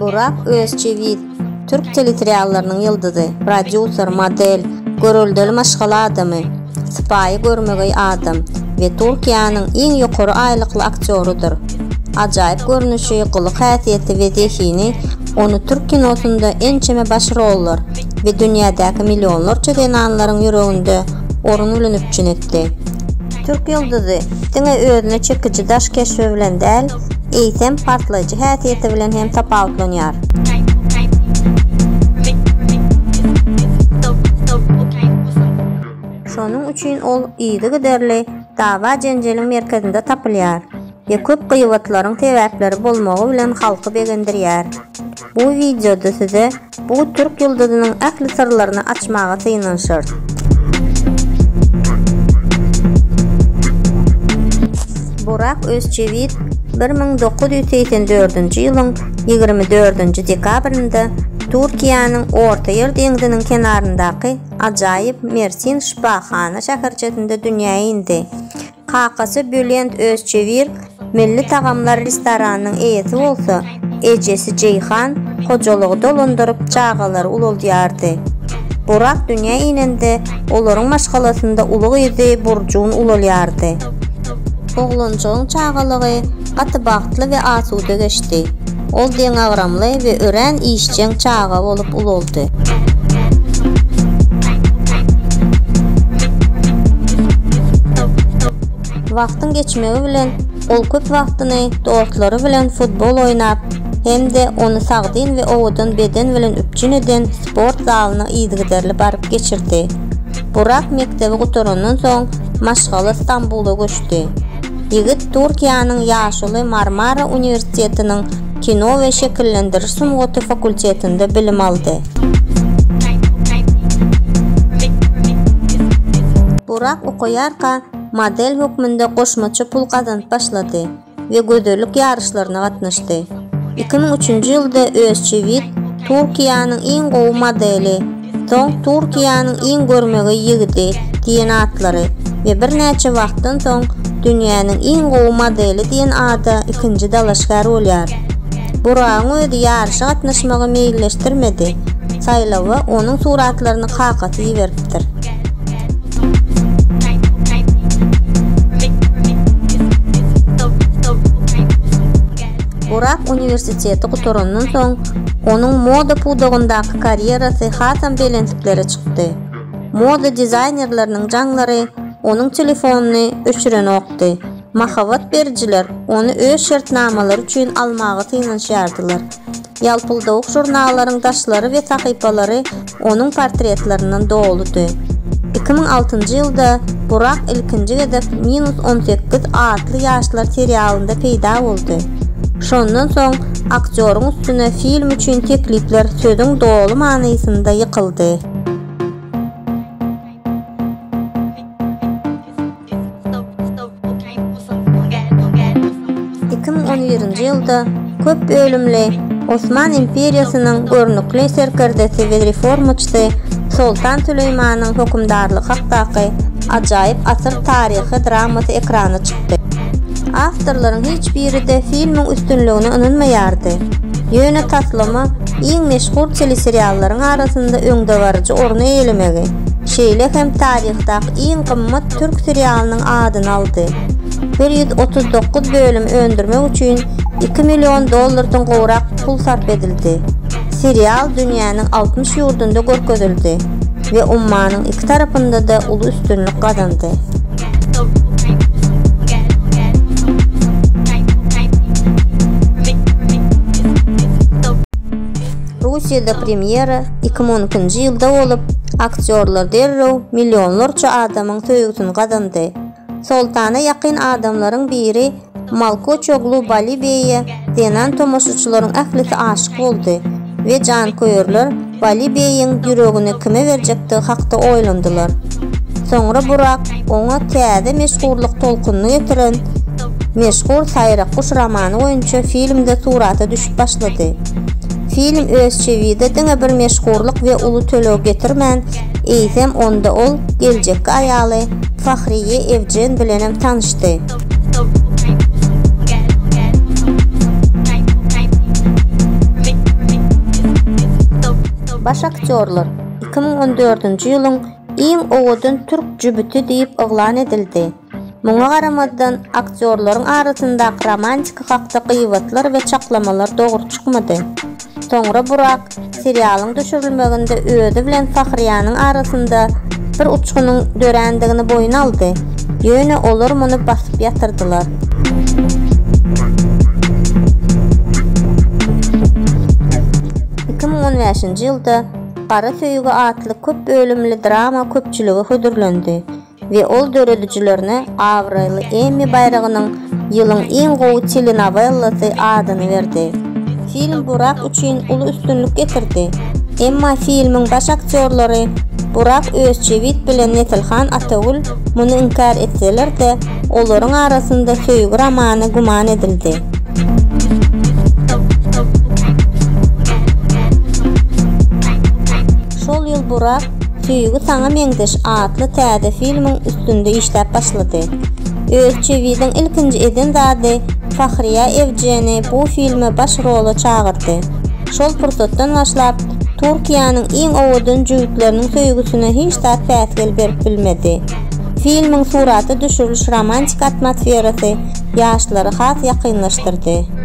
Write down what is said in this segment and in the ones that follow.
Burak Özçewiz, türk teleseriallarynyň ýyldyzy, prodýuser, model, göreldeli maşgala adamy, sypaýy görmegeý adam we Türkiýäniň iň ýokary aýlykly aktýorydyr. Ajaýyp görnüşi, gylyk-häsiýeti we zehini ony türk kinosynda ençeme baş rollar, we dünýädäki millionlarça zenanlaryň ýüreginde orun bilen üpjün etdi. Türk ýyldyzy diňe özüne çekiji daş keşbi bilen däl, eýsem, partlaýjy häsiýeti bilen hem tapawutlanýar. Şonuň üçin ol yzygiderli dawa-jenjeliň merkezinde tapylýar we köp gybatlaryň sebäpleri bolmagy bilen halky begendirýär. Bu wideoda size Bu türk ýyldyzynyň ähli syrlaryny açmaga synanyşarys. Burak Özçewit bir müň dokuz ýüz segsen dördünji ýylyň ýigrimi dördünji dekabrynda Türkiýäniň Ortaýer deňziniň kenaryndaky ajaýyp Mersin şypahana şäherçesinde dünýä indi. Kakasy Bülent Özçewir Milli tagamlar restoranynyň eýesi bolsa, ejesi Jeýhan hojalygy dolandyryp, çagalary ulaldýardy. Burak dünýä inende, olaryň maşgalasynda uly gyzy Burjun ulalýardy. Oglanjygyň çagalygy gaty bagtly we asuda geçdi. Ol deňagramly we örän işjeň çaga bolup ulaldy. Wagtyň geçmegi bilen ol köp wagtyny dostlary bilen futbol oýnap hem-de ony sagdyn we owadan beden bilen üpjün eden sport zalyna yzygiderli baryp geçirdi. Burak mekdebi gutarandan soň maşgala Stambula göçdi. Ýigit Türkiýäniň ýaşuly Marmara uniwersitetiniň kino we şekillendiriş sungaty fakultetinde bilim aldy. Burak okaýarka model hökmünde goşmaça pul gazanyp başlady we gözellik ýaryşlaryna gatnaşdy. Iki müň üçünji ýylda Özçewit Türkiýäniň iň gowy modeli, Soň Türkiýäniň iň görmegeý ýigidi diýen atlary we birnäçe wagtdan soň Dünýäniň iň gowy modeli diýen ada ikinji dalaşgär bolýar. Buragyň özi ýaryşa gatnaşmagy meýilleşdirmedi, saýlawa onuň suratlaryny kakasy iberipdir. Burak uniwersiteti gutarandan soň, Onuň moda pudagyndaky karýerasy hasam belentliklere çykdy. Moda dizaýnerleriniň jaňlary onuň telefonyny öçürenokdy. Mahabat berijiler ony öz şertnamalary üçin almaga synanyşýardylar. Ýalpyldawuk žurnallaryň daşlary we sahypalary onuň portretlerinden doludy. Iki müň altynjy ýylda Burak ilkinji gezek Minus on sekiz atly ýaşlar serialynda peýda boldy. Şondan soň aktýoryň üstüne film üçin teklipler sözüň doly manysynda ýykyldy. Iki müň on birinji ýylda köp bölümli Osman imperiýasynyň görnükli serkerdesi we reformaçysy Soltan Süleýmanyň hökümdarlygy hakdaky ajaýyp asyr taryhy dramasy ekrana çykdy. Awtorlaryň hiç biri-de filmiň üstünligine ynanmaýardy, ýöne taslama iň meşhur teleseriallaryň arasynda öňdebaryjy orny eýelemegi, şeýle hem taryhdaky iň gymmat türk serialynyň adyny aldy. Bir ýüz otuz dokuz bölüm öndürmek üçin iki million dollardan gowrak pul sarp edildi. Serial dünýäniň altmyş ýurdunda görkezildi we ummanyň iki tarapynda-da uly üstünlik gazandy. Russiýada premýera iki müň on ikinji ýylda bolup, aktýorlar derrew millionlarça adamyň söýgüsini gazandy. Soltana ýakyn adamlaryň biri Malkoçoglu Balibeýe zenan tomaşaçylaryň ählisi aşyk boldy we janköýerler Balibeýiň ýüregini kime berjekdigi hakda oýlandylar. Soňra Burak oňa täze meşhurlyk tolkunyny getiren meşhur Saýrak guş romany boýunça filmde surata düşüp başlady. Film öz çewide diňe bir meşhurlyk we uly töleg getirmän, eýsem onda ol geljekki aýaly Fahriýe Ewjen bilenem tanyşdy. Baş aktýorlar iki müň on dördünji ýylyň iň owadan türk jübüti diýip yglan edildi. Muňa garamazdan, aktýorlaryň arasyndaky romantika hakda gybatlar we çaklamalar dogry çykmady. Soňra Burak Serialyň düşürilmeginde özi bilen Fahriýanyň arasynda bir uçgunyň dörändigini boýun aldy, ýöne olar muny basyp ýatyrdylar. Iki müň on bäşinji ýylda Gara söýgi atly köp bölümli drama köpçülige hödürlendi. we ol döredijilerine abraýly Emmi baýragynyň Ýylyň iň gowy telenovellesy adyny berdi. Film Burak üçin uly üstünlik getirdi. Emma filmiň baş aktýorlary Burak Özçewit bilen Nesilhan Atagül muny inkär etseler-de, olaryň arasynda söýgi romany güman edildi. Şol ýyl Burak Söýgi saňa meňzeş atly täze filmiň üstünde işläp başlady. Özçewiziň ilkinji eden zady Fahriýa Ewjeni bu filme baş rola çagyrdy. Şol pursatdan başlap, Türkiýäniň iň owadan jübütleriniň söýgüsine hiç zat päsgel berip bilmedi. Filmiň surata düşüriliş romantik atmosferasy ýaşlary has ýakynlaşdyrdy.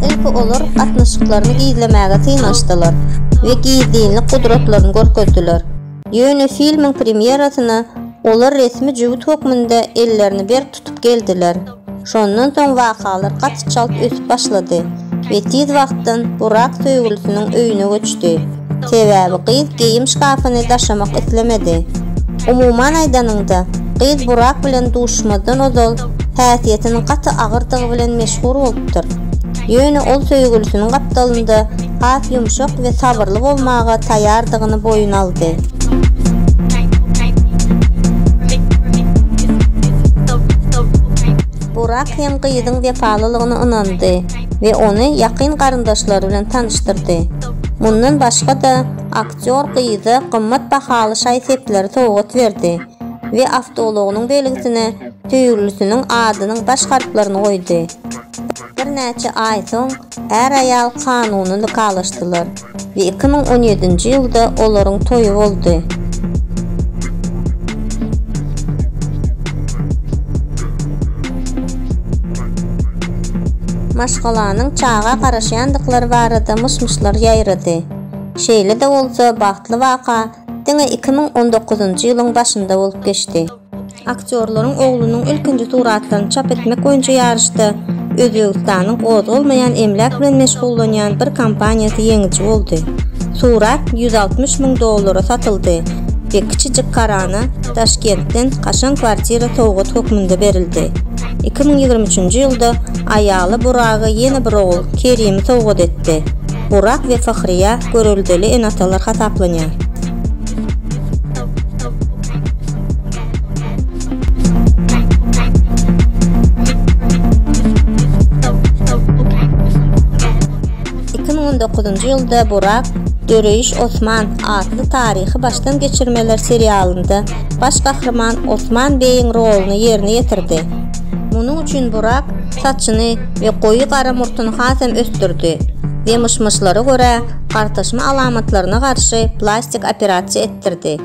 Ilki olar gatnaşyklaryny gizlemäge synanyşdylar we gizlinlik gudratlaryny görkezdiler. Ýöne filmiň premýerasyna olar resmi jübüt hökmünde ellerini berk tutup geldiler. Şondan soň wakalar gaty çalt ösüp başlady we tiz wagtdan Burak söýgülisiniň öýüne göçdi. Sebäbi gyz geýim şkafyny daşamak islemedi. Umuman aýdanyňda, gyz Burak bilen duşmazdan ozal häsiýetiniň gaty agyrdygy bilen meşhur bolupdyr. Ýöne ol söýgülisiniň gapdalynda has ýumşak we sabyrly bolmaga taýýardygyny boýun aldy. Burak hem gyzyň wepalylygyna ynandy we ony ýakyn garyndaşlary bilen tanyşdyrdy. Mundan başga-da, aktýor gyza gymmat bahaly şaý-sepleri sowgat berdi we awtoulagynyň belgisine söýgülisiniň adynyň baş harplaryny goýdy. Birnäçe aý soň är-aýal kanuny nikalaşdylar we iki müň on ýedinji ýylda olaryň toýy boldy. Maşgalanyň çaga garaşýandyklary barada myş-myşlar ýaýrady. Şeýle-de bolsa, bagtly waka diňe iki müň on dokuzynjy ýylyň başynda bolup geçdi. Aktýorlaryň oglunyň ilkinji suratlaryny çap etmek boýunça ýaryşda Özbegistanyň gozgalmaýan emläk bilen meşgullanýan bir kompaniýasy ýeňiji boldy. Surat ýüz altmyş müň dollara satyldy we kiçijik Karana Daşkentden kaşaň kwartira sowgat hökmünde berildi. iki müň ýigrimi üçünji ýylda aýaly Buraga ýene bir ogul, Kerimi sowgat etdi. Burak we Fahriýa göreldeli ene-atalar hasaplanýar. Iki müň on dokuzynjy ýylda Burak Döreýiş Osman atly taryhy başdan geçirmeler serialynda baş gahryman Osman beýiň roluny ýerine ýetirdi. Munuň üçin Burak saçyny we goýy gara murtuny has hem ösdürdi we myş-myşlara görä gartaşma alamatlaryna garşy plastik operasiýa etdirdi.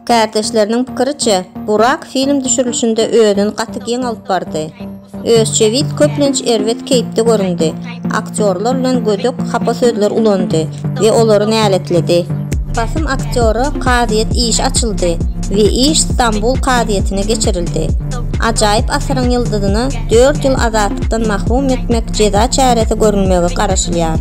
Kärdeşleriniň pikiriçe, Burak film düşürilişinde özüni gaty giň alyp bardy. Özçewit köplenç erbet keýpde göründi, aktýorlar bilen gödek, hapa sözler ulandy we olary näletledi. Basym aktýora kazyýet işi açyldy we iş Stambul kazyýetine geçirildi. Ajaýyp asyryň ýyldyzyna dört ýyl azatlykdan mahrum etmek jeza çäresi görülmegi garaşylýar.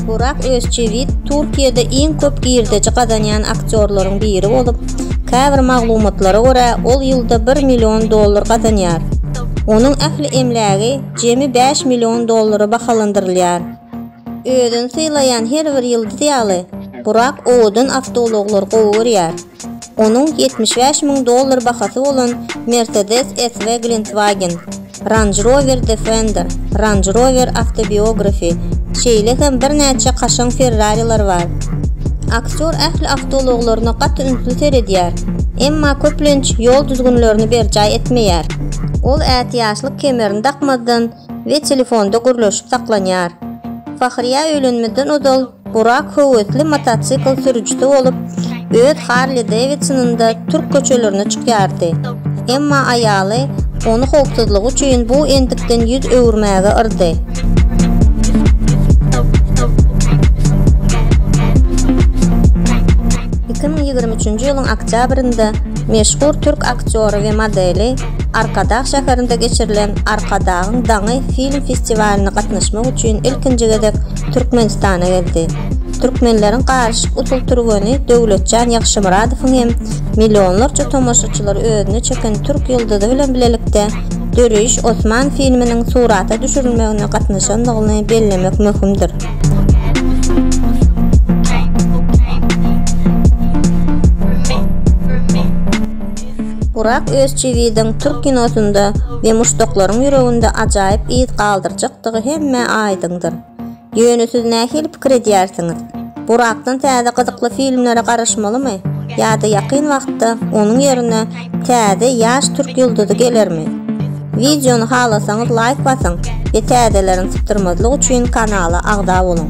Burak Özçewit Türkiýede iň köp girdeji gazanýan aktýorlaryň biri bolup, käbir maglumatlara görä, ol ýylda bir million dollar gazanýar. Onuň ähli emlägi jemi bäş million dollara bahalandyrylýar. Özüni sylaýan her bir ýyldyz ýaly, Burak owadan awtoulaglary gowy görýär. Onuň ýetmiş bäş müň dollar bahasy bolan Mercedes S we Glentwagen. Range Rover Defender, Range Rover Autobiography, şeýle hem birnäçe kaşaň Ferrariler bar. Aktýor ähli awtoulaglaryna gaty ünsli seredýär, emma köplenç ýol düzgünlerini berjaý etmeýär. Ol ätiýaçlyk kemerini dakmazdan we telefonda gürleşip saklanýar. Fahriýa öýlenmezden ozal Burak höwesli motosikl sürüjisi bolup, öz Harli Davidsonynda türk köçelerine çykýardy. Emma aýaly ony howpsuzlygy üçin bu endikden ýüz öwürmäge yrdy. Iki müň ýigrimi üçünji ýylyň oktýabrynda meşhur türk aktýory we modeli Arkadag şäherinde geçirilen Arkadagyň daňy film festiwalyna gatnaşmak üçin ilkinji gezek Türkmenistana geldi. Türkmenleriň garyşyk usul türgeni Döwletjan Ýagşymyradowyň hem millionlarça tomaşaçylary özüne çeken türk ýyldyzy bilen bilelikde Döreýiş Osman filminiň surata düşürilmegine gatnaşandygyny bellemek möhümdir. Burak Özçiwidiň türk kinosynda we muşdaklaryň ýüreginde ajaýyp yz galdyrjak boljakdygy hemmä aýdyňdyr. Ýöne siz nähili pikir edýärsiňiz? Burakdan täze gyzykly filmlere garaşmalymy ýa-da ýakyn wagtda onuň ýerine täze ýaş türk ýyldyzy gelermi? Wideony halasaňyz laýk basyň we täzelerini sypdyrmazlyk üçin kanala agza boluň.